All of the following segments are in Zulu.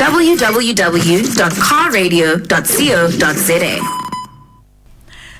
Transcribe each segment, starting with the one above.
www.carradio.co.za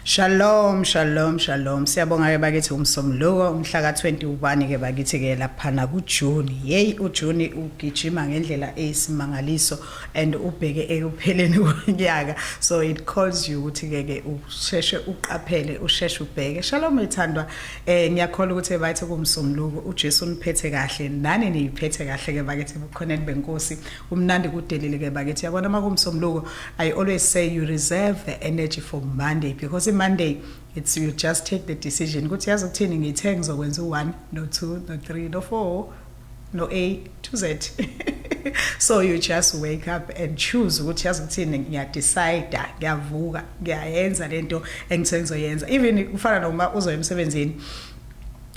Shalom shalom shalom siyabonga ke bakithi umsomluko umhla ka21 ke bakithi ke laphana ku June hey u June ugijima ngendlela eyisimangaliso and ubheke ekupheleni konyaka so it calls you ukuthi ke ke usheshe uqaphele usheshe ubheke shalom ithandwa Eh ngiyakholwa ukuthi ebathi kumsunguluko uJesu uniphethe kahle nani niyiphethe kahle ke bakithi bukhoneni benkosi umnandi kudelile ke bakithi yabona makumsunguluko I always say you reserve the energy for Monday because Monday it's you just take the decision ukuthi yazi ukuthini ngithe ngizokwenza u1 no2 no3 no4 no A to Z so you just wake up and choose ukuthi yazi ukuthini ngiyadecide ngiyavuka ngiyayenza lento engithe ngizoyenza even kufana noma uzoya emsebenzini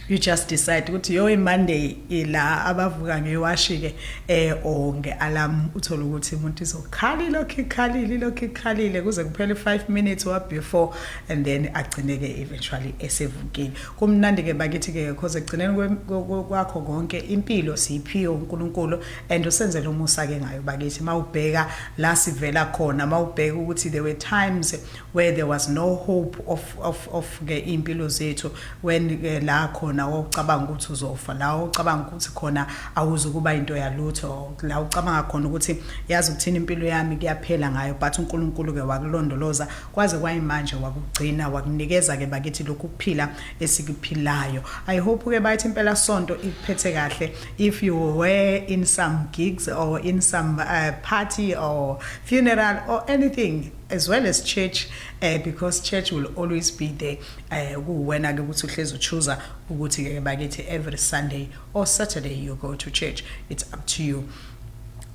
you just decide ukuthi yo imonday ila abavuka ngewashike eh or ngealarm uthola ukuthi umuntu izokhala ilokhu ikhalile ilokhu ikhalile kuze kuphele 5 minutes wa before and then agcineke eventually esevukile Kumnandi ke bakithi ke because ekugcineni kwe- kwe- kwe- kwakho konke impilo siyiphiwe uNkulunkulu and usenzele umusa ke ngayo bakithi mawubheka la sivela khona mawubheka ukuthi there were times where there was no hope of of of ke impilo zethu when ke la khona wawucabanga ukuthi uzofa la wawucabanga ukuthi khona awuzukuba into yalutho la ucabanga khona ukuthi yazi ukuthini impilo yami kuyaphela ngayo but uNkulunkulu ke wakulondoloza Kwaze kwayimanje wakugcina wakunikeza ke bakithi lokhu kuphila esikuphilayo. I hope ke bayithi impela sonto ikuphethe kahle if you were in some gigs or in some uh, party or funeral or anything as well as church uh, because church will always be there eh, kuwena ke ukuthi uhlezi uchuza ukuthi ke bakithi every sunday or saturday you go to church it's up to you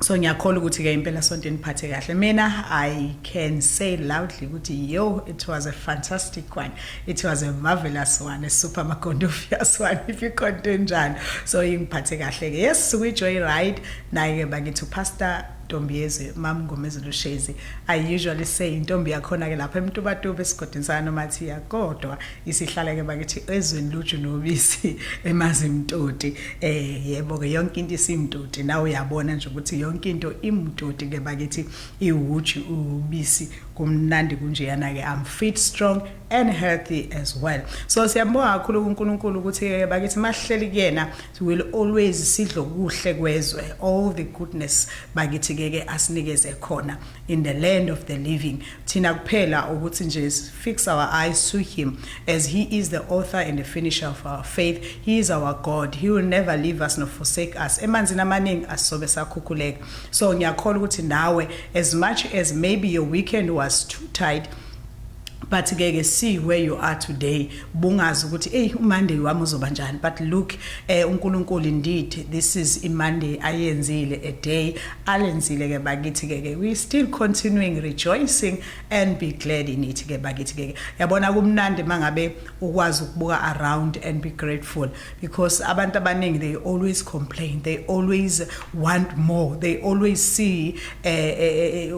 so ngiyakholwa ukuthi ke impela sonto eniphathe kahle mina i can say loudly ukuthi yo it was a fantastic one it was a marvelous one a super magondofias one if you can't do njani so ingiphathe kahle ke yes we joy ride naye ke bakithi pastor ntombi yezwe mam ngomezulu shezi i usually say intombi yakhona ke lapha emtubatuba esigodini sana nomathiya kodwa isihlala ke bakithi ezweni luju nobisi emazimtoti eh yebo ke yonke into isimtoti nawe uyabona nje ukuthi yonke into imtoti ke bakithi iwuju ubisi kumnandi kunjeyana ke I'm fit strong and healthy as well so siyambonga kakhulu kuNkulunkulu ukuthi eh, bakithi mahleli kuyena will always sidlo kuhle kwezwe all the goodness bakithi ke ke asinikeze khona in the land of the living Thina kuphela ukuthi nje fix our eyes to him as he is the author and the finisher of our faith. He is our God. He will never leave us nor forsake us. Emanzini amaningi asisobe sakhukhuleka. So ngiyakholwa ukuthi nawe as much as maybe your weekend was too tight but ke ke see where you are today bungazi ukuthi hey uMonday wami uzoba njani but look eh uNkulunkulu indeed this is iMonday ayenzile a day alenzile ke bakithi ke ke we still continuing rejoicing and be glad in it ke bakithi ke yabona kumnandi mangabe ukwazi ukubuka around and be grateful because abantu abaningi they always complain they always want more they always see eh, eh, eh,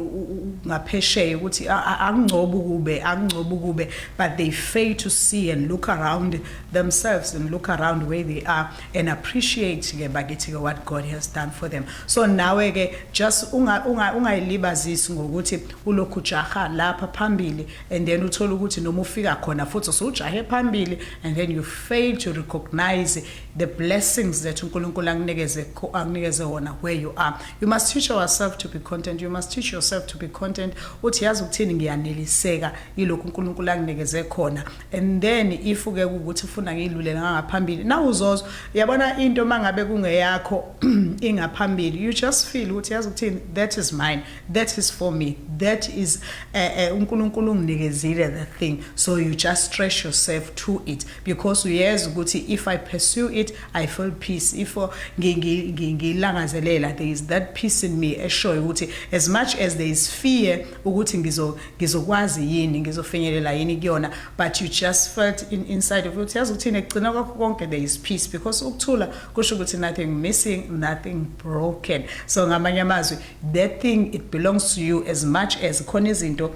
ngaphesheya ukuthi akungcoba ukube akungcoba ukube but they fail to see and look around themselves and look around where they are and appreciate ke bakithi ke what God has done for them so nawe ke just unga ungayilibazisi ngokuthi ulokhu jaha lapha phambili and then uthola ukuthi noma ufika khona futhi usujahe phambili and then you fail to recognize the blessings that uNkulunkulu akunikeze akunikeze wona where you are you must teach yourself to be content you must teach yourself to be content uthi yazi ukuthini ngiyaneliseka yilokhu uNkulunkulu akunikeze khona and then if ke ukuthi ufuna ngiyilulela ngangaphambili nawe uzozwa yabona into uma ngabe kungeyakho ingaphambili you just feel ukuthi yazi ukuthini that is mine that is for me that is eh, eh, uNkulunkulu uh, uh, unginikezile the thing so you just stretch yourself to it because uyeza ukuthi if i pursue it i feel peace if ngilangazelela there is that peace in me eshoyo ukuthi as much as there is fear ukuthi ngizo ngizokwazi yini ngizofinyelela yini kuyona but you just felt in, inside of ukuthi yazi ukuthini ekugcina kwakho konke there is peace because ukuthula kusho ukuthi nothing missing nothing broken so ngamanye amazwi that thing it belongs to you as much as khona izinto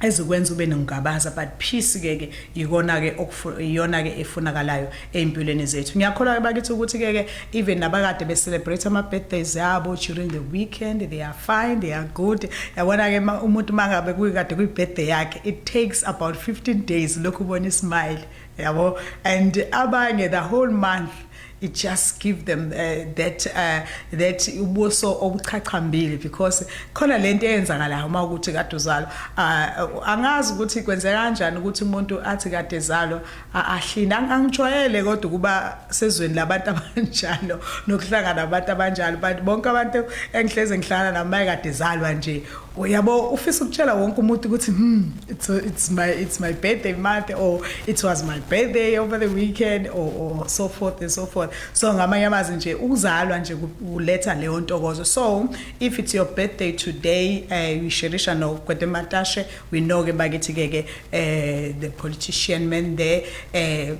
ezikwenza ube nokungabaza but peace ke ke ikona ke iyona ke efunakalayo ey'mpilweni zethu ngiyakholwa bakithi ukuthi-ke ke even nabakade be-celebrate ama-birthdays abo during the weekend they are fine they are good yabona-ke umuntu uma ngabe kuyikade kwi-birthday yakhe it takes about 15 days lokhu ubona ismile yabo and abanye the whole month it just give them uh, that uh, that ubuso obuchachambile because khona lento eyenzakalayo uma ukuthi kade uzalwa uh, angazi ukuthi kwenzeka kanjani ukuthi umuntu athi kade ezalwa Ahlini angijwayele kodwa ukuba sezweni labantu abanjalo nokuhlangana nabantu abanjalo but bonke abantu engihleze ngihlangana nabo mayekade zalwa nje uyabo ufisa ukutshela wonke umuntu ukuthi hmm it's, it's my it's my birthday month or it was my birthday over the weekend or, or so forth and so forth so ngamanye amazwi nje ukuzalwa nje kuletha leyo ntokozo so if it's your birthday today uh, eh, uyisherisha nokwetematashe We know ke bakithi ke ke eh the politician men there eh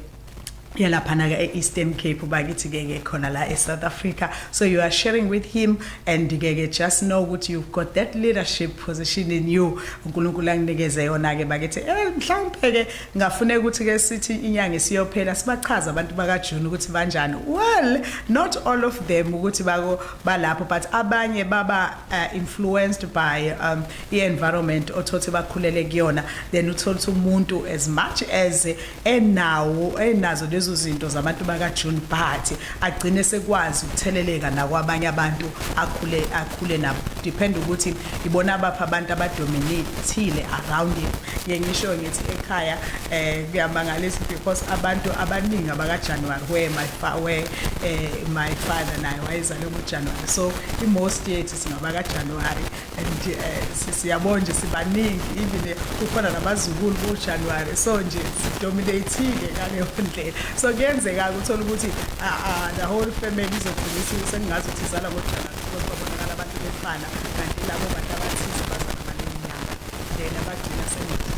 yalaphana ke e-Eastern Cape bakithi ke ke khona la e-South Africa so you are sharing with him and ke ke just know ukuthi you've got that leadership position in you uNkulunkulu anginikeze yona ke bakithi eh mhlawumbe ke ngafune ukuthi ke sithi inyanga isiyophela sibachaza abantu baka June ukuthi banjani well not all of them ukuthi bako balapho but abanye baba uh, influenced by um, i-environment othothi bakhulele kuyona then uthole ukuthi umuntu as much as enawo enazo lezo zinto zabantu bakaJune Bhathi agcine sekwazi ukutheleleka nakwabanye abantu akhule akhule nabo depend ukuthi ibona abapha abantu abadominatile around him ngisho ngithi ekhaya eh kuyamangalisa because abantu abaningi abakaJanuary where my where eh, my father naye wayezalwe ngoJanuary so i-most yethu singabakaJanuary and eh, siyabona nje sibaningi even eh, kukhona nabazukulu bojanuwari so nje sidominatile ngaleyo ndlela so kuyenzeka-ke uthole ukuthi ah, ah, the whole family izogcina seningazi ukuthi izala kojanuwari because babonakala abantu befana kanti labo bantu abathize bazala ngaleyo nyanga then abagcina sengathi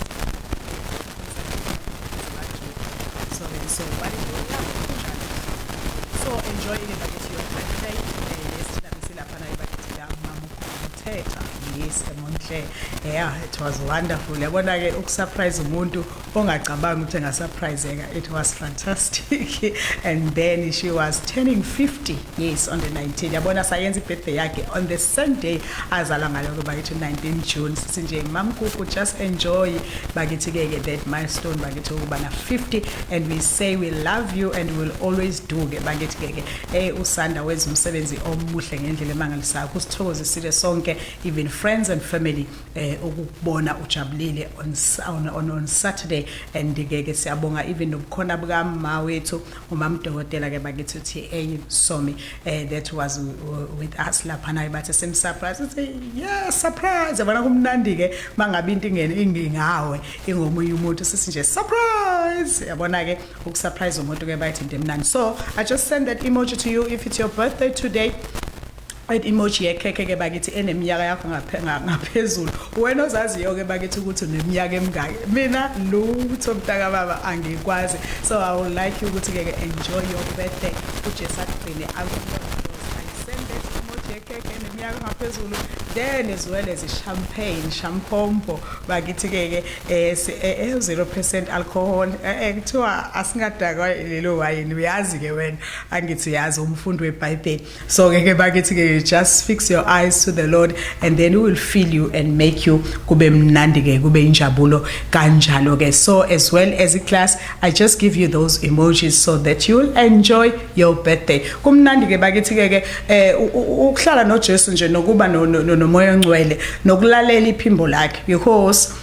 so then so but so enjoy it Thetha yes Monhle yeah it was wonderful yabona ke ukusurprise umuntu ongacabanga ukuthi engasurpriseka it was fantastic and then she was turning 50 yes on the 19 yabona sayenza ibirthday yakhe on the same day azalwa ngayo kuba yithi 19 June sinje mamkuku just enjoy bakithi ke ke that milestone bakithi ukuba na 50 and we say we love you and we will always do ke bakithi ke ke Hey usanda wenza umsebenzi omuhle ngendlela emangalisayo kusithokozisile sonke even friends and family eh ukubona ujabulile on on, on, on Saturday and ke ke siyabonga even nobukhona buka mama wethu umamdokotela ke bakithi uthi hey somi eh that was with us lapha naye bathe sim surprise uthi yeah surprise yabona kumnandi ke mangabe into ingene ingingawe ingomunye umuntu sisinje surprise yabona ke ukusurprise umuntu ke bayithi into emnandi so i just send that emoji to you if it's your birthday today and emoji yekhekhe ke bakithi eneminyaka yakho ngaphezulu wena ozaziyo ke bakithi ukuthi uneminyaka emingaki mina lutho mntaka baba angikwazi so i would like you ukuthi ke enjoy your birthday uJesu akugcine ngaphezulu then as well as champagne shampompo bakithi-ke-ke eh si eh, eh 0% alcohol eh, eh kuthiwa asingadakwa lelo wayini uyazi ke wena angithi yazi umfundi weBhayibheli so ngeke bakithi ke just fix your eyes to the Lord and then he will fill you and make you kube mnandi ke kube injabulo kanjalo ke so as well as a class i just give you those emojis so that you will enjoy your birthday kumnandi ke bakithi ke ke eh, ukuhlala noJesu nje nokuba nomoya ongcwele nokulalela iphimbo lakhe because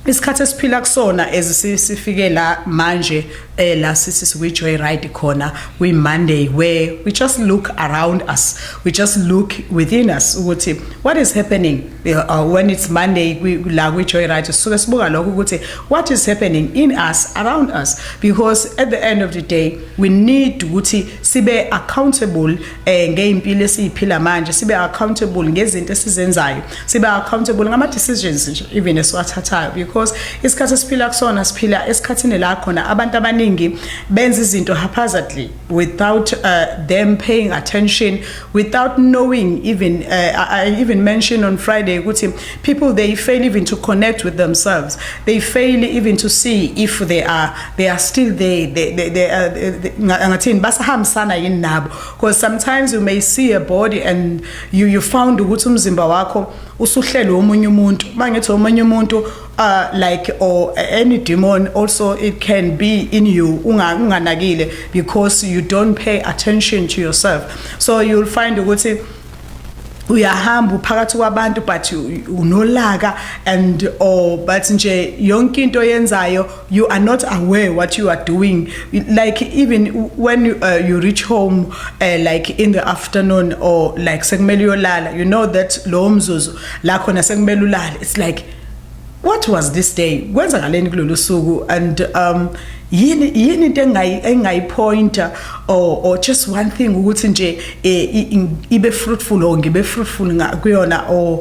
isikhathi esiphila kusona ezisifike la manje eh la sisi sikwi joyride khona we monday where we just look around us we just look within us ukuthi what is happening eh, uh, when it's monday we la kwi joyride sisuke sibuka lokho ukuthi what is happening in us around us because at the end of the day we need ukuthi sibe accountable eh ngeimpilo esiyiphila manje sibe accountable ngezinto esizenzayo siba accountable ngama decisions nje even esiwathathayo because isikhathi esiphila kusona siphila esikhathini la khona abantu abaningi benza izinto haphazardly without uh, them paying attention without knowing even uh, I even mentioned on Friday ukuthi people they fail even to connect with themselves they fail even to see if they are they are still there they they, they are uh, ngathini basahambisana yini nabo because sometimes you may see a body and you, you found ukuthi umzimba wakho usuhlelwe omunye umuntu uma ngithi omunye umuntu uh, like or any demon also it can be in you unganakile because you don't pay attention to yourself so you'll find ukuthi uyahamba uphakathi kwabantu but unolaka and or but nje yonke into yenzayo you are not aware what you are doing like even when you, uh, you reach home uh, like in the afternoon or like sekumele uyolala you know that lowo mzuzu la khona sekumele ulale it's like what was this day kwenzakaleni kulolu suku and um yini yini into engayi engayipointer or or just one thing ukuthi nje eh, ibe fruitful or ngibe fruitful kuyona or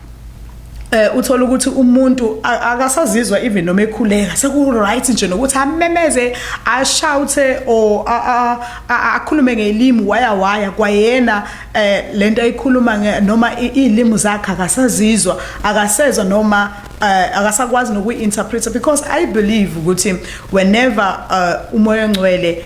eh uthola ukuthi umuntu akasazizwa even noma ekhuleka seku right nje nokuthi amemeze a shout or akhulume ngelimi waya waya kwayena eh lento ayikhuluma noma ilimi zakhe akasazizwa akasezwa noma eh, akasakwazi nokuinterpreta because i believe ukuthi whenever eh, umoya ongcwele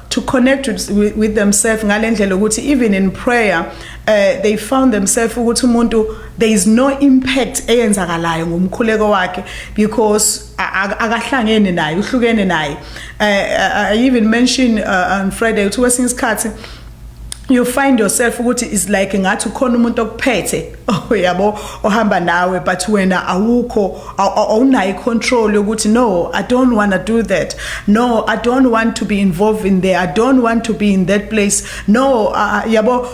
to connect with, with, with themselves ngalendlela ukuthi even in prayer uh, they found themselves ukuthi umuntu there is no impact eyenzakalayo ngomkhuleko wakhe because akahlangene naye uhlukene naye uh, uh, i even mention uh, on friday ukuthi kwesinye isikhathi you find yourself ukuthi is like ngathi ukhona umuntu okuphethe Oh yabo ohamba nawe but wena awukho awunayo control yokuthi no I don't want to do that no I don't want to be involved in there I don't want to be in that place no uh, yabo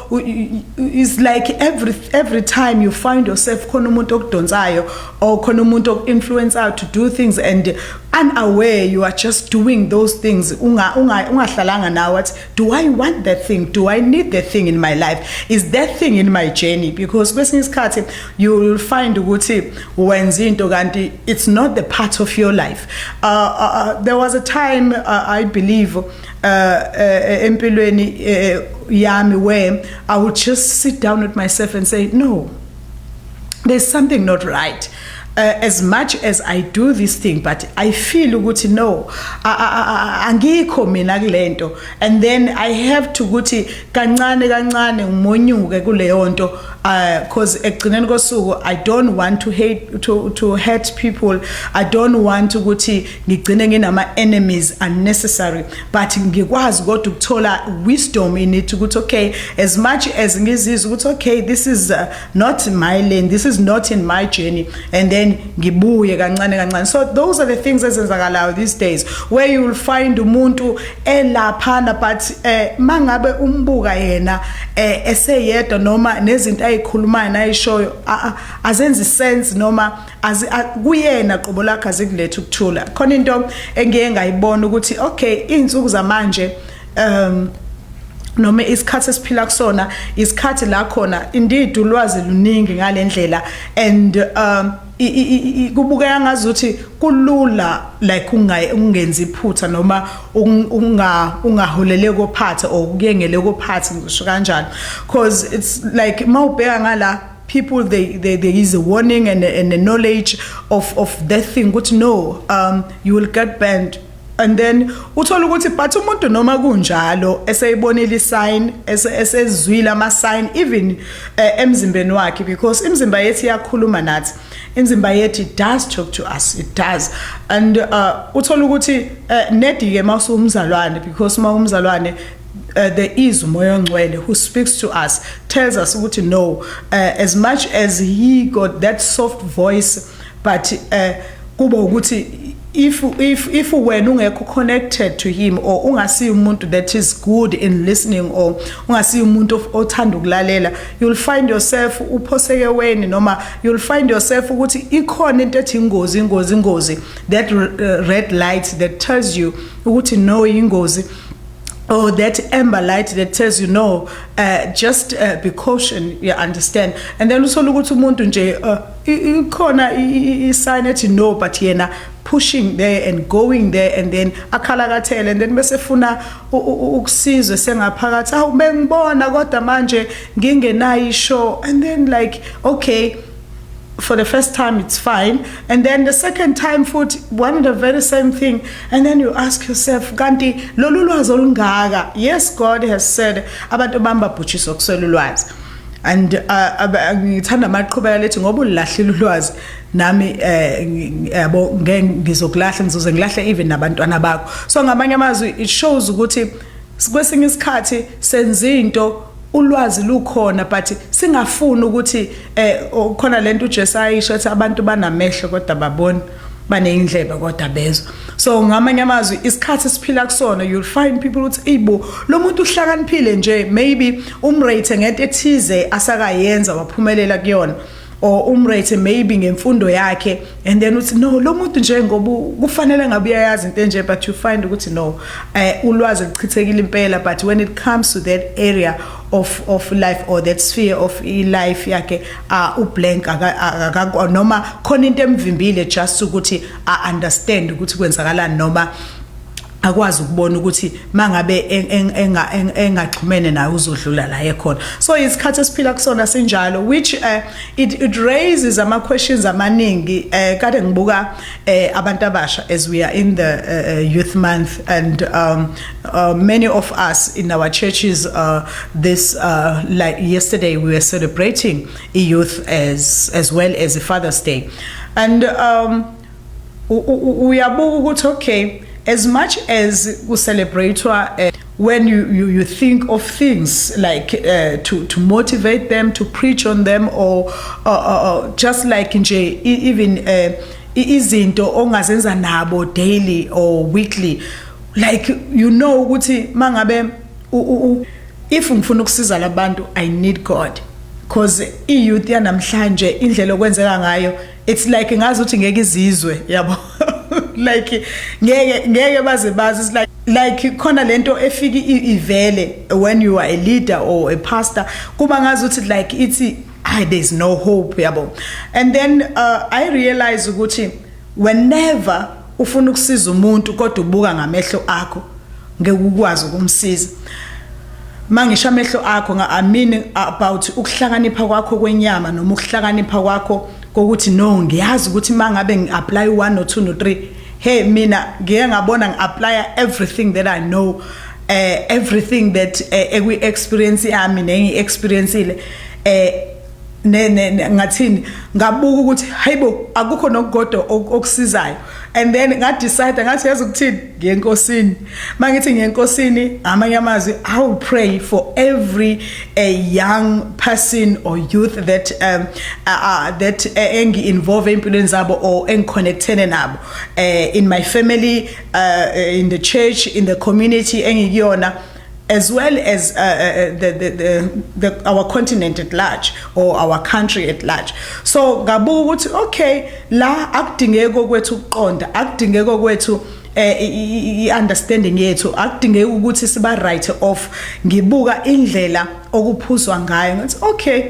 is like every every time you find yourself khona umuntu okudonsayo or khona umuntu okinfluencer to do things and unaware you are just doing those things unga ungahlalanga nawe do i want that thing do i need that thing in my life is that thing in my journey because kwesinye isikhathi you will find ukuthi wenza into kanti it's not the part of your life uh, uh, uh there was a time uh, i believe uh, uh, empilweni uh, yami where i would just sit down with myself and say no there's something not right Uh, as much as I do this thing but I feel ukuthi no angikho mina kulento and then I have to ukuthi kancane kancane ngimonyuke kuleyo nto uh, cause ekugcineni kosuku I don't want to hate to to hurt people I don't want ukuthi ngigcine nginama enemies unnecessary but ngikwazi kodwa ukuthola wisdom in it ukuthi okay as much as ngizizwa ukuthi okay this is uh, not in my lane this is not in my journey and then ngibuye kancane kancane so those are the things ezenzakalayo these days where you will find umuntu elaphana but eh mangabe umbuka yena eh eseyedwa noma nezinto ayikhulumayo nayishoyo azenzi sense noma azi kuyena qobo lakhe azikulethe ukuthula khona into engiye ngayibona ukuthi okay izinsuku zamanje um noma isikhathi esiphila kusona isikhathi la khona indeed ulwazi luningi ngalendlela and um kubukeka ngazuthi kulula like ungenzi iphutha noma unga ungaholele kophathe or ukuyengele kophathe ngisho kanjalo because it's like mawubheka ngala people they, they, there is a warning and a, and a knowledge of, of that thing ukuthi no um, you will get banned and then uthola ukuthi but umuntu noma kunjalo eseyibonile isign esezwile ama sign even uh, emzimbeni wakhe because imizimba yethu iyakhuluma nathi imizimba yethu it does talk to us it does and uh, uthola ukuthi uh, eh, nedi ke mawusumzalwane because mawumzalwane Uh, there is umoya ongcwele who speaks to us tells us ukuthi no uh, as much as he got that soft voice but uh, kuba ukuthi if if if wena ungekho connected to him or ungasi umuntu that is good in listening or ungasi umuntu othanda ukulalela you'll find yourself uphoseke weni noma you'll find yourself ukuthi ikhona into ethi ingozi ingozi ingozi that uh, red light that tells you ukuthi no ingozi or that amber light that says you know uh, just uh, be caution you understand and then usola ukuthi umuntu nje uh, ikhona i sign ethi no but yena pushing there and going there and then akhalakathele and then bese funa ukusizwe sengaphakathi awu bengibona kodwa manje ngingenayo ishow and then like okay for the first time it's fine and then the second time futhi one of the very same thing and then you ask yourself kanti lolu lwazi olungaka yes god has said abantu bamba bhutshisa okuswela ulwazi and uh, ngithanda uh, amaqhubeka lethi ngoba ulahlile ulwazi nami eh, yabo ngeke ngizokulahla ngizoze ngilahle even nabantwana bakho so ngamanye amazwi it shows ukuthi kwesinye isikhathi senza into ulwazi lukhona but singafuni ukuthi eh khona lento uJesu ayisho ethi abantu banamehlo kodwa babona baneyindlebe kodwa bezwa so ngamanye amazwi isikhathi siphila kusona you'll find people ukuthi eyibo lo muntu uhlakaniphile nje maybe umrate ngento ethize asakayenza waphumelela kuyona or umrate maybe ngemfundo yakhe and then uthi no lo muntu nje ngoba kufanele ngabe uyayazi into enje but you find ukuthi no uh, ulwazi luchithekile impela but when it comes to that area of of life or that sphere of life yakhe uh, ublank akakwa noma khona into emvimbile just ukuthi a understand ukuthi kwenzakalani noma akwazi ukubona ukuthi mangabe engaxhumene naye uzodlula la ekhona so isikhathi esiphila kusona sinjalo which uh, it, it raises ama questions amaningi uh, kade ngibuka uh, abantu abasha as we are in the uh, uh, youth month and um, uh, many of us in our churches uh, this uh, like yesterday we were celebrating youth as as well as the father's day and um, uyabuka ukuthi okay as much as ku celebratewa uh, eh, when you, you, you think of things like uh, to, to motivate them, to preach on them, or, or, or just like in J, even uh, izinto ongazenza nabo daily or weekly like you know ukuthi mangabe if ngifuna ukusiza labantu i need god because i-youth yanamhlanje indlela okwenzeka ngayo it's like ngazi ukuthi ngeke izizwe yabo like ngeke ngeke baze bazi it's like like khona lento efiki ivele when you are a leader or a pastor kuba ngazi ukuthi like ithi ay there's no hope yabo and then uh, i realize ukuthi whenever ufuna ukusiza umuntu kodwa ubuka ngamehlo akho ngeke ukwazi ukumsiza Mangisho amehlo akho nga I mean about ukuhlakanipha kwakho kwenyama noma ukuhlakanipha kwakho kokuthi no ngiyazi ukuthi mangabe ngi apply 1 no 2 no 3 hey mina ngike ngabona ngi apply everything that I know uh, everything that uh, eh, ekwi experience yami nengi experience ile eh ne ne ngathini ngabuka ukuthi hayibo akukho nokugodo okusizayo and then nga decide ngathi yazi ukuthini ngenkosini mangithi ngenkosini amanye amazwi i will pray for every a young person or youth that um uh, uh, that uh, engi involve empilweni zabo or engiconnectene nabo uh, in my family uh, in the church in the community engikuyona as well as uh, uh, uh, the, the, the, the, our continent at large or our country at large so ngabuka ukuthi okay la akudingeki okwethu ukuqonda akudingeki okwethu eh, i-understanding yethu akudingeki ukuthi siba right off ngibuka indlela okuphuzwa ngayo ngathi okay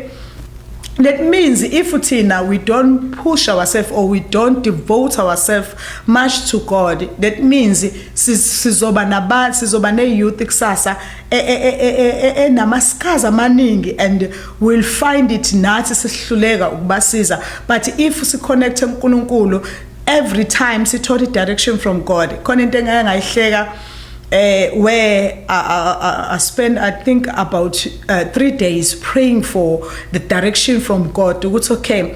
that means if thina we don't push ourselves or we don't devote ourselves much to god that means sizoba naba sizoba ne youth kusasa e, e, e, enamaskazi amaningi and we'll find it nathi sihluleka ukubasiza but if si connect uNkulunkulu every time sithola direction from God khona into engeke ngayihleka uh, where I, I, I spent, I think, about uh, three days praying for the direction from God. It's okay.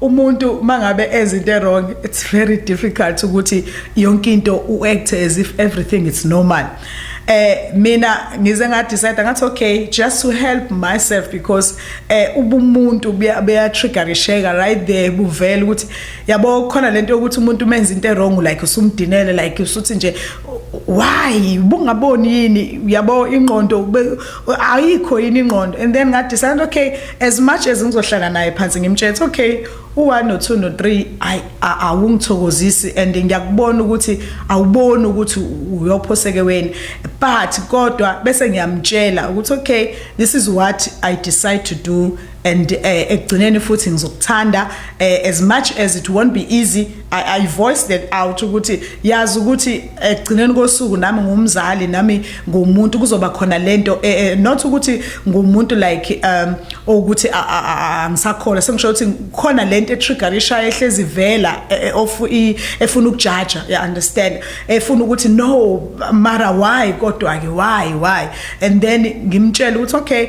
umuntu mangabe enza into wrong it's very difficult ukuthi yonke into u act as if everything is normal eh mina ngize nga decide ngathi okay just to help myself because eh ubumuntu buya triggerisheka right there buvela ukuthi yabo khona lento yokuthi umuntu umenza into wrong like usumdinele like usuthi nje why bungaboni yini yabo ingqondo ayikho yini ingqondo and then ngathi santo okay as much as ngizohlala naye phansi ngimtshela okay u1 no 2 no 3 ay awungithokozisi and ngiyakubona ukuthi awuboni ukuthi uyophoseke weni but kodwa bese ngiyamtshela ukuthi okay this is what i decide to do and eh, ekugcineni futhi ngizokuthanda eh, as much as it won't be easy I, I voice that out ukuthi yazi ukuthi ekugcineni kosuku nami ngumzali nami ngumuntu kuzoba khona lento eh, eh, not ukuthi ngumuntu like um ukuthi angisakhola sengisho ukuthi khona lento etrigger ishaya ehlezi vela e, e, of efuna ukujaja you understand efuna ukuthi no mara why kodwa ke why why and then ngimtshela ukuthi okay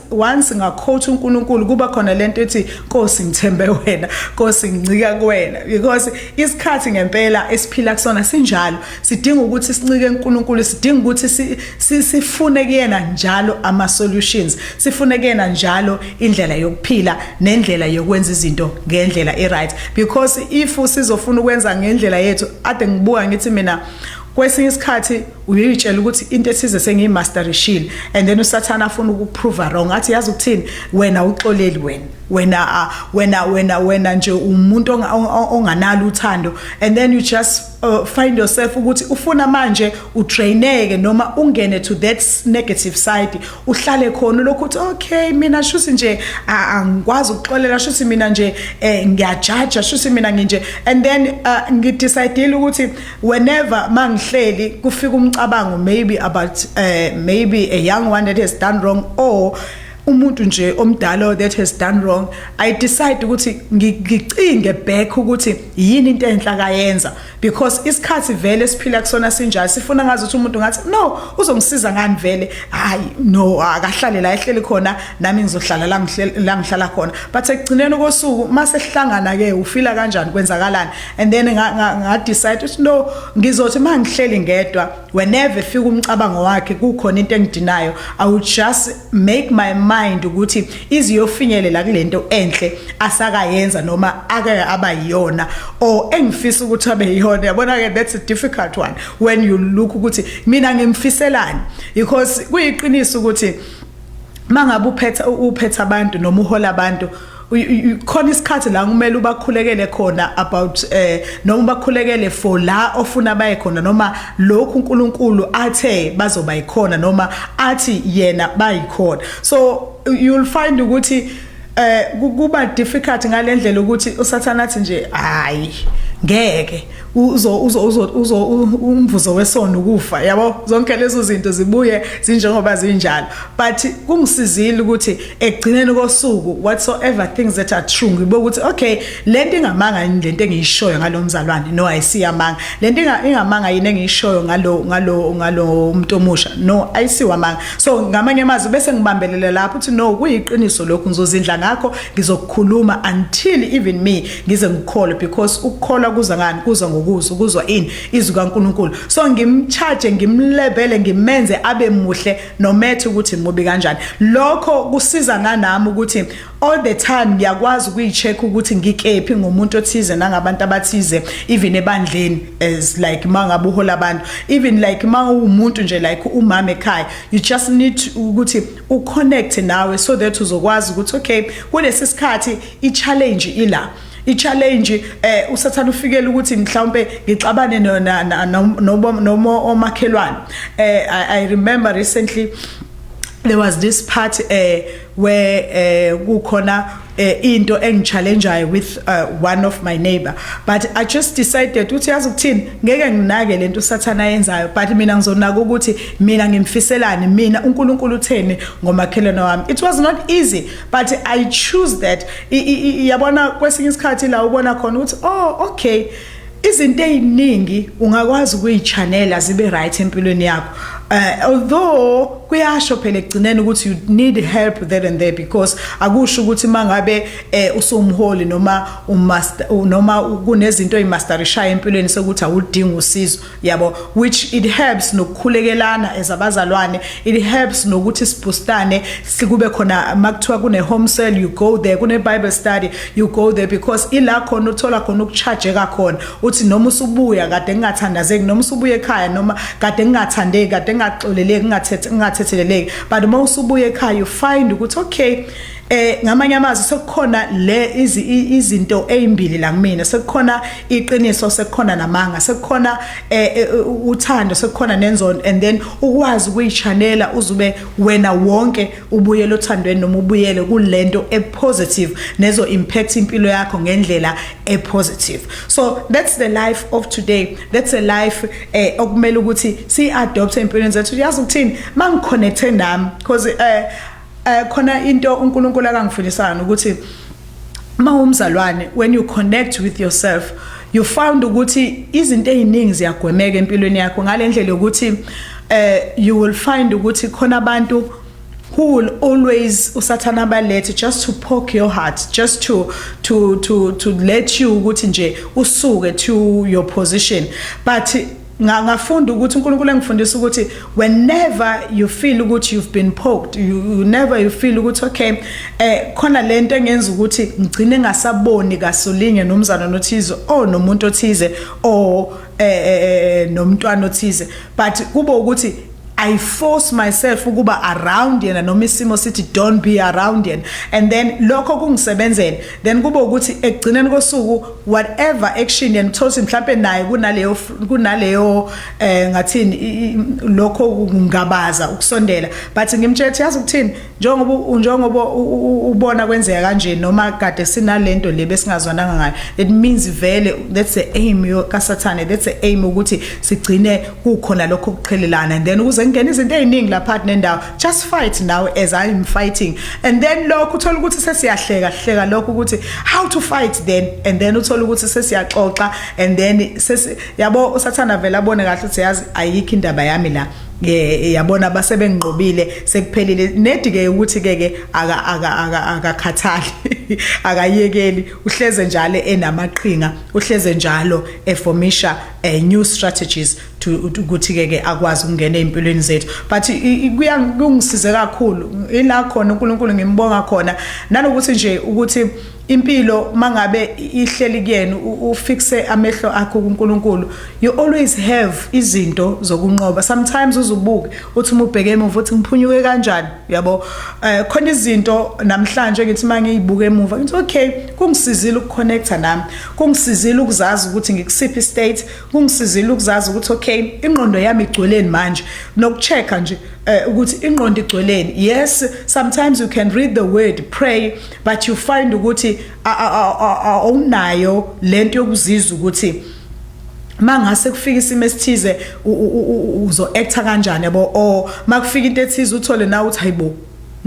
once ngakhotha uNkulunkulu kuba khona lento ethi Nkosi ngithembe wena Nkosi ngincika kuwena because isikhathi ngempela esiphila kusona sinjalo sidinga ukuthi sincike uNkulunkulu sidinga ukuthi sifune kuyena njalo ama solutions sifune kuyena njalo indlela yokuphila nendlela yokwenza izinto ngendlela e right because if sizofuna ukwenza ngendlela yethu ade ngibuka ngithi mina kwesinye isikhathi uyitshela ukuthi into ethize sengiyimasterishile and then usathana afuna ukuprove wrong athi yazi ukuthini wena uxoleli wena wena ah, wena wena wena nje umuntu onganalo uthando and then you just uh, find yourself ukuthi ufuna manje utraineke noma ungene to that negative side uhlale khona lokho ukuthi okay mina shuthi nje angikwazi ukuxolela shuthi mina nje eh, ngiyajaja shuthi mina nginje and then uh, ngidecidile ukuthi whenever mangihleli kufika umcabango maybe about uh, maybe a young one that has done wrong or umuntu nje omdala that has done wrong i decide ukuthi ngicinge back ukuthi yini into enhla kayenza because isikhathi vele siphila kusona sinjalo sifuna ngazi ukuthi umuntu ngathi no uzongisiza ngani vele hayi no akahlale la ehleli khona nami ngizohlala la ngihlala khona but ekugcineni kosuku mase sihlangana ke ufila kanjani kwenzakalani and then ngadecide ukuthi no ngizothi uma ngihleli ngedwa whenever fika umcabango wakhe kukhona into engidinayo i would just make my mind ukuthi iziyofinyelela kulento enhle asakayenza noma ake aba yiyona or engifisa ukuthi abe yiyona yabona ke that's a difficult one when you look ukuthi mina ngimfiselani because kuyiqiniso ukuthi mangabe uphetha uphetha abantu noma uhola abantu khona isikhathi la kumele ubakhulekele khona about eh noma ubakhulekele for la ofuna baye khona noma lokhu uNkulunkulu athe bazoba yikhona noma athi yena bayikhona so you'll find ukuthi eh kuba difficult ngalendlela ukuthi usathana athi nje hayi ngeke uzo uzo uzo uzo umvuzo wesono ukufa yabo zonke lezo zinto zibuye zinjengoba zinjalo but kungisizile ukuthi ekugcineni kosuku whatsoever things that are true ngibe ukuthi okay lento ingamanga yini lento engiyishoyo ngalomzalwane no ayisiyamanga lento ingamanga yini engiyishoyo ngalo ngalo ngalo umuntu omusha no ayisiwamanga so ngamanye amazwi bese ngibambelela lapho ukuthi no kuyiqiniso lokhu ngizozindla ngakho ngizokukhuluma until even me ngize ngikholwe because ukukholwa kuza ngani kuza ngokuzwa ukuzwa ini izwi kaNkuluNkulu so ngimcharge ngimlebele ngimenze abe muhle no matter ukuthi mubi kanjani lokho kusiza nganami ukuthi all the time ngiyakwazi ukuyicheck ukuthi ngikephi ngomuntu othize nangabantu abathize even ebandleni as like mangabe uhola abantu even like mawumuntu nje like umama ekhaya you just need ukuthi uconnect nawe so that uzokwazi ukuthi okay kulesi sikhathi I-challenge ila i-challenge eh usathana ufikele ukuthi mhlawumbe ngixabane noma omakhelwane eh i remember recently there was this part eh where eh kukhona eh, into engichallengeayo with uh, one of my neighbor but i just decided ukuthi yazi ukuthini ngeke nginake lento usathana yenzayo but mina ngizonaka ukuthi mina ngimfiselani mina uNkulunkulu utheni ngomakhelwane wami it was not easy but i choose that yabona kwesinye isikhathi la ubona khona ukuthi oh okay izinto eziningi ungakwazi ukuyichanela zibe right empilweni yakho uh, although kuyasho phela ekugcineni ukuthi you need help there and there because akusho ukuthi mangabe eh, usumholi noma umaster noma kunezinto ezimasterishayo empilweni sokuthi awudingi usizo yabo which it helps nokukhulekelana as abazalwane it helps nokuthi sibhustane sikube khona makuthiwa kune home cell you go there kune bible study you go there because ila khona uthola khona ukucharge kakhona uthi noma usubuya kade ngingathandazeki noma usubuye ekhaya noma kade ngingathandeki kade ngingaxoleleki ngingathethe ngingathetheleleki but uma usubuye ekhaya you find ukuthi okay eh ngamanye amazwi sekukhona le izinto ezimbili la kumina sekukhona iqiniso sekukhona namanga sekukhona eh, eh, uthando sekukhona nenzondo and then ukwazi ukuyichanela uzube wena wonke ubuyele othandweni noma ubuyele kulento epositive nezo impact impilo yakho ngendlela epositive so that's the life of today that's a life eh okumele ukuthi si adopt empilweni zethu uyazi ukuthini mangiconnecte nami because eh Eh khona into uNkulunkulu akangifilisana ukuthi mawumzalwane when you connect with yourself you found ukuthi izinto eziningi ziyagwemeka empilweni yakho ngalendlela ukuthi eh you will find ukuthi khona abantu who will always usathana balethe just to poke your heart just to to to to let you ukuthi nje usuke to your position but ngafunda ukuthi uNkulunkulu engifundisa ukuthi whenever you feel ukuthi you've been poked you, you never you feel ukuthi okay eh khona lento engenza ukuthi ngigcine ngasaboni kasolinye nomzana nothize oh nomuntu othize oh eh, eh, eh, eh nomntwana othize but kube ukuthi I force myself ukuba around yena noma isimo sithi don't be around yena and then lokho kungisebenzele then kube ukuthi ekugcineni kosuku whatever action yena uthothi mhlawumbe naye kunaleyo kunaleyo eh ngathini lokho kungabaza ukusondela but ngimtshela ukuthi yazi ukuthini njengoba u- njengoba u- u- u- ubona kwenzeka kanje noma kade sinalento le besingazwananga ngayo it means vele that's the aim yo- kasathane that's the aim ukuthi sigcine kukhona lokho kuqhelelana and then ukuze kungena izinto eziningi lapha nendawo just fight now as i am fighting and then lokho uthola ukuthi sesiyahleka hleka lokho ukuthi how to fight then and then uthola ukuthi sesiyaxoxa and then sesi yabo usathana vele abone kahle ukuthi yazi ayikho indaba yami la ke yabona base benginqobile sekuphelile nedi ke ukuthi ke ke aka aka aka akakhathali akayekeli uhleze njalo enamaqhinga uhleze njalo eformisha eh, new strategies to ukuthi ke ke akwazi ukungena empilweni zethu but kuyangisize kakhulu ila khona uNkulunkulu ngimbonga khona nanokuthi nje ukuthi Impilo mangabe ihleli kuyena ufixe amehlo akho kuNkulunkulu you always have izinto zokunqoba sometimes uzubuke uthi uma ubheke emuva uthi ngiphunyuke kanjani uyabo uh, khona izinto namhlanje ngithi mangiyibuka emuva ngithi okay kungisizile ukuconnecta nami kungisizile ukuzazi ukuthi ngikusiphi state kungisizile ukuzazi ukuthi okay ingqondo yami igcweleni manje nokuchecka nje uh, ukuthi ingqondo igcweleni yes sometimes you can read the word pray but you find ukuthi awunayo lento yokuzizwa ukuthi mangase kufika isimo esithize uzo actor kanjani yabo or makufika into ethize uthole na uthi hayibo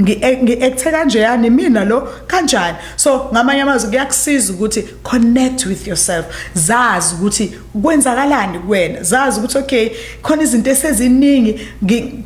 ngi-acthe kanje yani mina lo kanjani so ngamanye amazwi kuyakusiza ukuthi connect with yourself zazi ukuthi kwenzakalani kuwena zazi ukuthi okay khona izinto eseziningi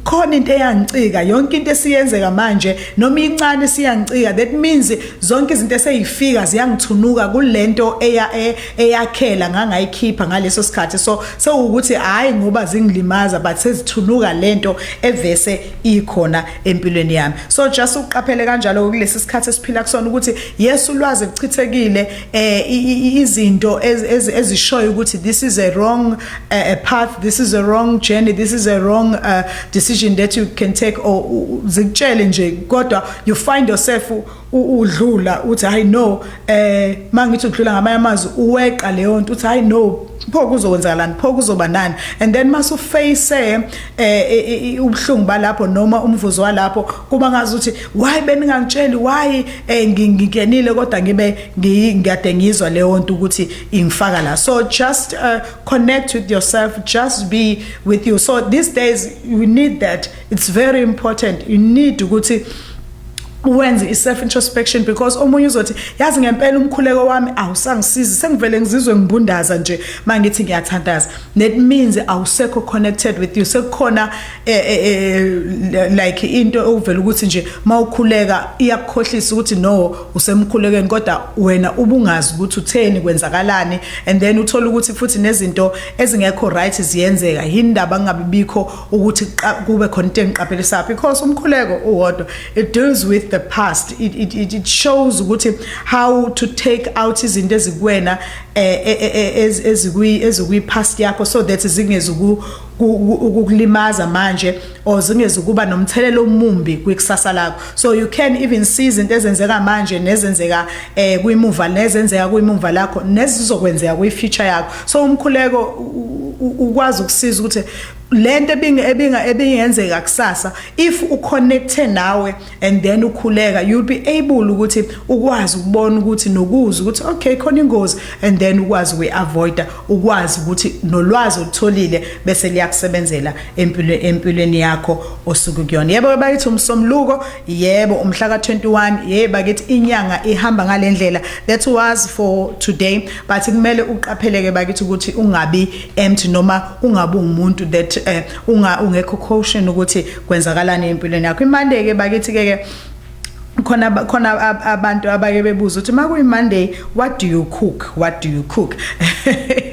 khona into eyangicika yonke into esiyenzeka manje noma incane siyangicika that means zonke izinto eseyifika ziyangithunuka kulento eya e, eyakhela ngangayikhipha ngaleso sikhathi so sewukuthi hayi ngoba zingilimaza but sezithunuka lento evese ikhona empilweni yami so just uqaphele kanjalo kulesi sikhathi esiphila kusona ukuthi yesu ulwazi lichithekile eh izinto ezishoyo ukuthi this is a wrong eh, a path this is a wrong journey this is a wrong uh, decision that you can take or zikutshele nje kodwa you find yourself udlula uthi hayi no eh mangithi udlula ngamanye amazwi uweqa leyo nto uthi hayi no pho kuzokwenzakalani pho kuzoba nani and then mase uface eh, eh, eh, eh ubuhlungu balapho noma umvuzo walapho kuba ngazi ukuthi why beningangitsheli why eh ngingenile kodwa ngibe ngiyade ngizwa leyo nto ukuthi ingifaka la so just uh, connect with yourself just be with you so these days you need that it's very important you need ukuthi wenze i-self introspection because omunye uzothi yazi ngempela umkhuleko wami awusangisizi sengivele ngizizwe ngibundaza nje mangithi ngiyathandaza that means awusekho connected with you sekukhona Eh, eh, eh, like into okuvela ukuthi nje mawukhuleka iyakukhohlisa ukuthi no usemkhulekeni kodwa wena ubungazi ukuthi utheni kwenzakalani and then uthola ukuthi futhi nezinto ezingekho right ziyenzeka yindaba ngabe bikho ukuthi kube khona into engiqaphelisa because umkhuleko uwodwa it deals with the past it, it, it, it shows ukuthi how to take out izinto ezikuwena ezikwi ezikwi past yakho so that zingezuku ukukulimaza manje or zingezukuba nomthelelo omumbi kwikusasa lakho so you can even see izinto ezenzeka manje nezenzeka eh kwimuva nezenzeka kwimuva lakho nezizokwenzeka kwifuture yakho so umkhuleko ukwazi ukusiza ukuthi lento ebinga ebinga ebingenzeka kusasa if uconnecte nawe and then ukhuleka you'll be able ukuthi ukwazi ukubona ukuthi nokuza ukuthi okay khona ingozi and then ukwazi we avoid ukwazi ukuthi nolwazi olutholile bese liyakusebenzela empilweni empilweni yakho osuku kuyona yebo bayithi umsomluko yebo umhla ka 21 yebo bakithi inyanga ihamba ngalendlela that was for today but kumele uqapheleke bakithi ukuthi ungabi empty noma ungabi umuntu that uh, unga ungekho caution ukuthi kwenzakalani empilweni yakho imande ke bakithi ke ke khona khona abantu abake bebuza ukuthi makuyi Monday what do you cook what do you cook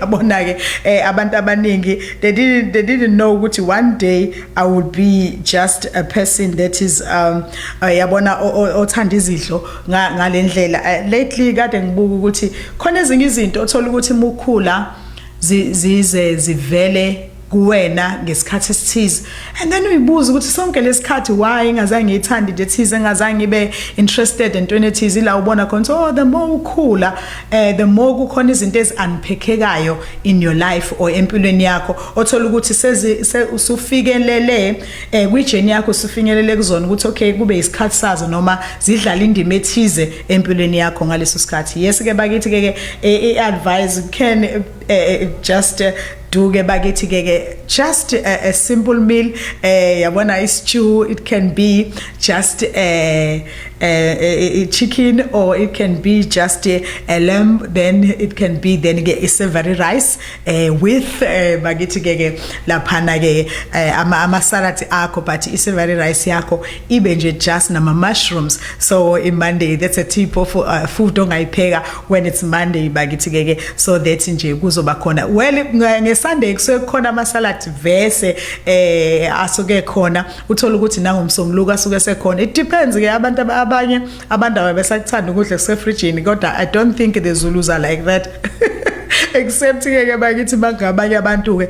yabona ke eh, abantu abaningi they didn't they didn't know ukuthi one day i would be just a person that is um uh, yabona othanda izidlo ngalendlela eh, lately kade ngibuka ukuthi khona ezinye izinto othola ukuthi mukhula zize zivele kuwena ngesikhathi esithize and then uyibuza ukuthi sonke lesikhathi why ingazange ngiyithandi into ethize engazange ngibe interested entweni ethize ila ubona khona so oh, the more ukhula eh the more kukhona izinto eziunpackekayo in your life or empilweni yakho othola ukuthi sezi usufikelele eh kwi journey yakho usufinyelele kuzona ukuthi okay kube isikhathi sazo noma zidlala indima ethize empilweni yakho ngaleso sikhathi yes ke bakithi ke ke eh, i advice can eh, eh just eh, duke bakithi ke ke just a, eh, a simple meal eh yabona istew it can be just a, a, a, a chicken or it can be just a, a lamb then it can be then ke savory rice eh with eh, bakithi ke ke laphana ke eh, ama ama salad akho but savory rice yakho ibe nje just nama mushrooms so in monday that's a tip of uh, food ongayipheka when it's monday bakithi keke so that nje kuzoba khona well ngesunday kusuke kukhona amasalad vese eh asuke khona uthola ukuthi nangomsomluko asuke sekhona it depends ke abantu abanye abandawo besakuthanda ukudla kusefridgini kodwa i don't think the zulus are like that except ke bakithi bangabanye abantu ke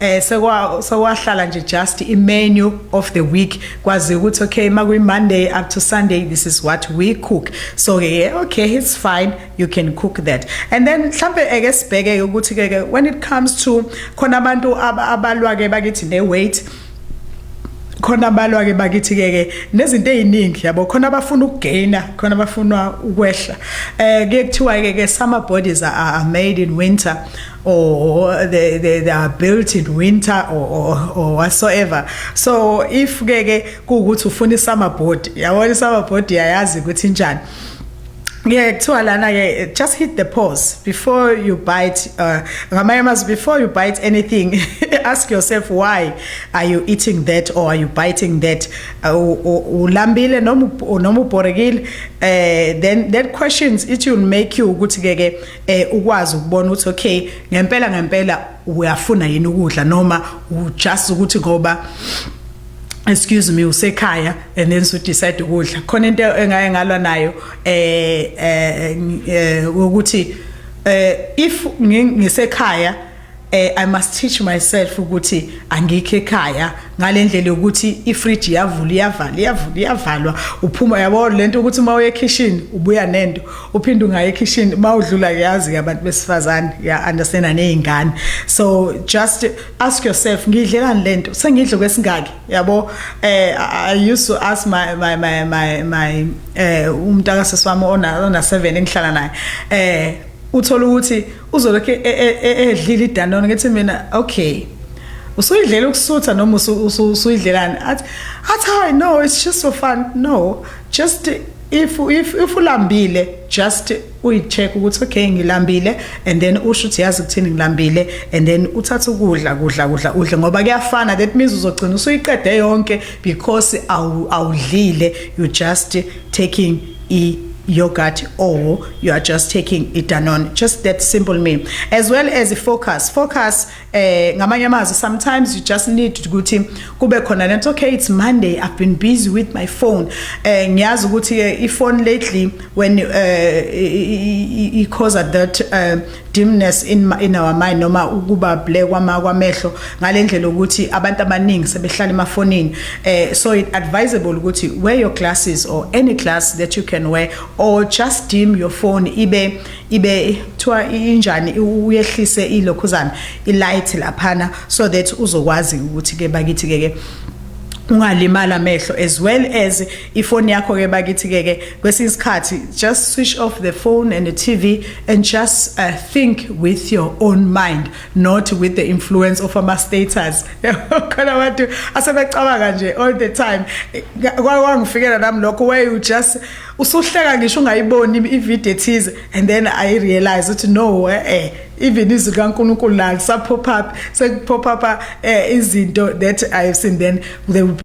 eh sekwa sekwahlala nje just i menu of the week kwazi ukuthi okay makuyi monday up to sunday this is what we cook so ke yeah, okay it's fine you can cook that and then mhlambe eke sibheke ukuthi ke when it comes to khona abantu abalwa ke bakithi ne weight khona balwa ke bakithi ke ke nezinto eziningi yabo khona abafuna ukugaina khona abafuna ukwehla eh kuyekuthiwa ke ke summer bodies are, are made in winter or they, they, they are built in winter or, or, or whatsoever so if ke ke kuwukuthi ufuna isummer board yabona isummer board yayazi ukuthi njani yeah kuthiwa lana ke just hit the pause before you bite uh, ngamanye uh, amazwi before you bite anything ask yourself why are you eating that or are you biting that uh, ulambile noma noma ubhorekile uh, then that questions it will make you ukuthi ke ke eh ukwazi ukubona ukuthi okay ngempela ngempela uyafuna yini ukudla noma just ukuthi ngoba excuse me usekhaya and then so decide ukudla khona into engaye ngalwa nayo eh eh, eh ukuthi eh if ngisekhaya eh i must teach myself ukuthi angikho ekhaya ngalendlela yokuthi ifridge yavula iyavala iyavula iyavalwa uphuma yabo lento ukuthi uma uye kitchen ubuya nento uphinde ungaye kitchen uma udlula yazi abantu besifazane ya understand nezingane so just ask yourself ngidlelani lento sengidle kwesingaki yabo eh i used to ask my my my my, my eh umntaka seswami ona ona 7 engihlala naye eh uthola ukuthi uzolokhu e, e, e, edlile idanone ngithi mina okay usuyidlela ukusutha noma usuyidlelani athi athi hayi no it's just for fun no just if if if ulambile just uyicheck ukuthi okay ngilambile and then usho ukuthi yazi kuthini ngilambile and then uthatha ukudla kudla kudla udle ngoba kuyafana that means uzogcina usuyiqede yonke because awudlile you just taking i yogurt or you are just taking a Danone just that simple meal as well as a focus focus eh ngamanye amazwi sometimes you just need ukuthi kube khona lento okay it's monday i've been busy with my phone eh ngiyazi ukuthi eh, i phone lately when uh, eh, it causes that uh, dimness in, in our mind noma ukuba black kwama kwamehlo ngalendlela ukuthi abantu abaningi sebehlala emafonini eh so it advisable ukuthi wear your glasses or any glass that you can wear or just dim your phone ibe ibe kuthiwa injani uyehlise ilokhuzana ilight laphana so that uzokwazi ukuthi ke bakithi ke ke ungalimala amehlo as well as ifoni yakho ke bakithi ke ke kwesinye isikhathi just switch off the phone and the TV and just uh, think with your own mind not with the influence of ama status khona abantu asebecabanga nje all the time kwawangifikela nami lokho where you just usuhleka ngisho ungayiboni ivideo ethize and then i realize ukuthi no eh, eh even izwi likaNkulunkulu la lisapop up sekupop up eh, izinto that i have seen then they will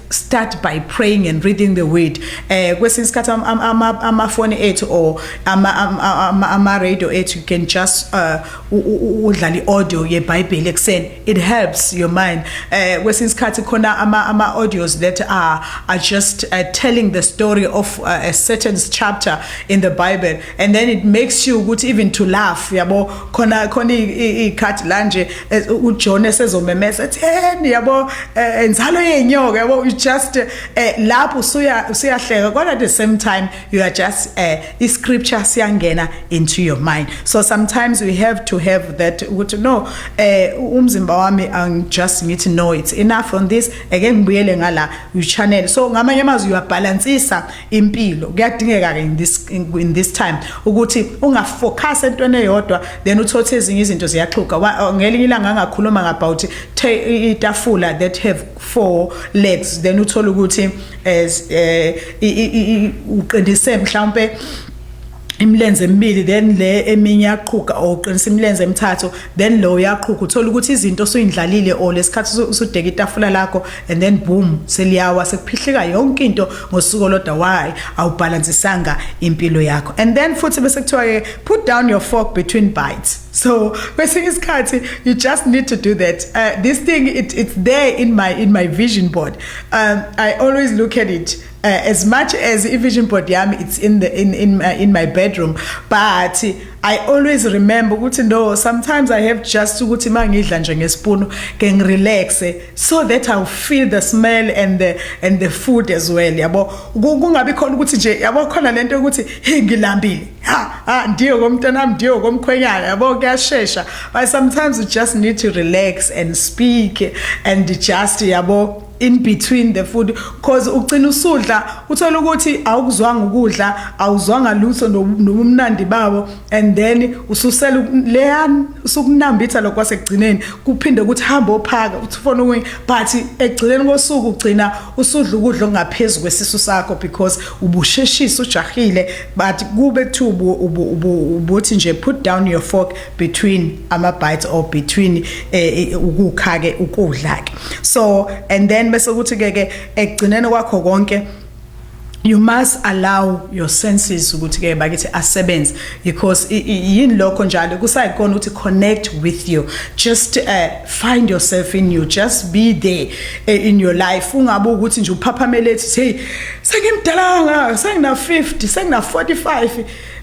start by praying and reading the word eh kwesinye isikhathi amafoni ethu or ama ama ama radio ethu you can just uh, udlala iaudio yeBhayibheli ekseni it helps your mind eh kwesinye isikhathi khona ama ama audios that are are just uh, telling the story of uh, a certain chapter in the bible and then it makes you ukuthi even to laugh yabo khona khona ikhathi la nje uJohn esezomemesa ethi hey yabo eh, enzalo yenyoka yabo you just eh, lapho usuya usuyahleka kodwa at the same time you are just eh, i scripture siyangena into your mind so sometimes we have to have that ukuthi no umzimba wami i'm just ngithi no it's enough on this ake ngibuyele ngala you channel so ngamanye amazwi you are balancisa impilo kuyadingeka ke in this in, in this time ukuthi ungafocus entweni eyodwa then uthothe ezinye izinto ziyaxhuga oh, ngelinye ilanga angakhuluma ngabout itafula that have four legs then uthola ukuthi as eh, eh, uqindise mhlawumbe imilenze emibili then le eminye yaqhuga or uqinisa imilenze emithathu then lo uyaqhuga uthola ukuthi izinto usuyindlalile or lesikhathi usudeka itafula lakho and then boom seliyawa sekuphihlika yonke into ngosuku olodwa why awubhalansisanga impilo yakho and then futhi bese kuthiwa ke put down your fork between bites so kwesinye isikhathi you just need to do that uh, this thing it, it's there in my in my vision board um, i always look at it Uh, as much as i-vision board yami it's in the in in my, in my bedroom but I always remember ukuthi no sometimes I have just ukuthi mangidla nje ngespoon ke ngirelax so that I feel the smell and the and the food as well yabo kungabi khona ukuthi nje yabo khona lento ukuthi hey ngilambile ha ha ndiyo komntana ndiyo komkhwenyana yabo kuyashesha but sometimes you just need to relax and speak and just yabo in between the food cause ugcina usudla uthola ukuthi awukuzwanga ukudla awuzwanga lutho nobumnandi bawo and then ususela leyan usukunambitha lokho kwasekugcineni kuphinde ukuthi hamba ophaka uthi ufona ukunye but ekugcineni kosuku ugcina usudla ukudla okungaphezulu kwesisu sakho because ubusheshisa ujahile but kube kuthiwa ubuthi nje put down your fork between ama bites or between eh, eh, ukukha ke ukudla ke so and then bese kuthi ke ke ekugcineni kwakho konke you must allow your senses ukuthi ke bakithi asebenze because yini lokho njalo kusayikona ukuthi connect with you just uh, find yourself in you just be there uh, in your life ungabe ukuthi nje uphaphamele ethi hey sengimdala ngaka sengina 50 sengina 45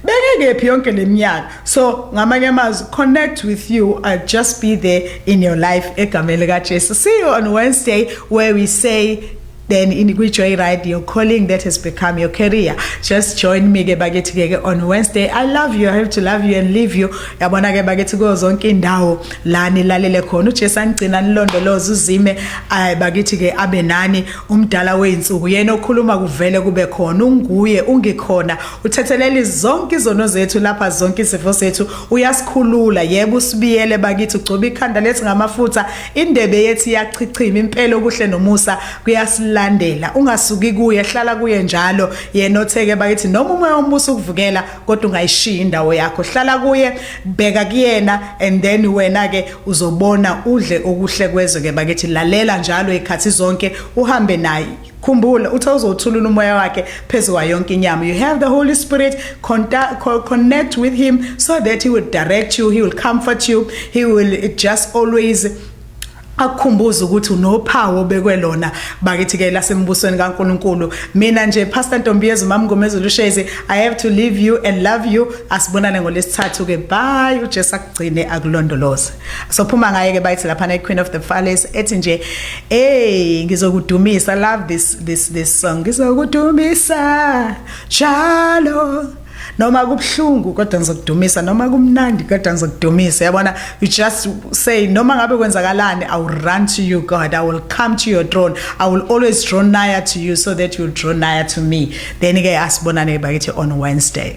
bengekephi yonke leminyaka so ngamanye amazwi connect with you i'll just be there in your life egameni likajesu see you on wednesday where we say then in kwi-joy ride your calling that has become your career just join me ke bakithi ke ke on wednesday i love you i have to love you and leave you yabona ke bakithi kuyo zonke indawo la nilalele khona ujesu anigcina nilondoloze uzime ay bakithi ke abe nani umdala wey'nsuku yena okhuluma kuvele kube khona unguye ungikhona Uthetheleli zonke izono zethu lapha zonke izifo sethu uyasikhulula yebo usibiyele bakithi ugcoba ikhanda lethi ngamafutha indebe yethu iyachichima impela okuhle nomusa kuyasilandela ungasuki kuye hlala kuye njalo yena otheke bakithi noma umoya ombuso ukuvukela kodwa ungayishiya indawo yakho hlala kuye bheka kuyena and then wena ke uzobona udle okuhle kwezwe ke bakithi lalela njalo ikhathi zonke uhambe naye Khumbula uthe uzothulula umoya wakhe phezu kwayo yonke inyama. You have the Holy Spirit contact, co connect with him so that he will direct you, he will comfort you, he will just always akukhumbuza ukuthi unophawu obekwe lona bakithi ke lasembusweni kaNkuluNkulu mina nje pastor Ntombiyezwe mamngomezulu ushezi i have to leave you and love you asibonane ngolesithathu ke bye uJesu akugcine akulondoloze sophuma ngaye ke bayithi lapha ne Queen of the Falles ethi nje hey ngizokudumisa love this this this song ngizokudumisa jalo noma kubhlungu kodwa ngizokudumisa noma kumnandi kodwa ngizokudumisa yabona you just say noma ngabe kwenzakalani i will run to you god i will come to your throne i will always draw nigher to you so that you draw nigher to me then ke asibonane bakithi on wednesday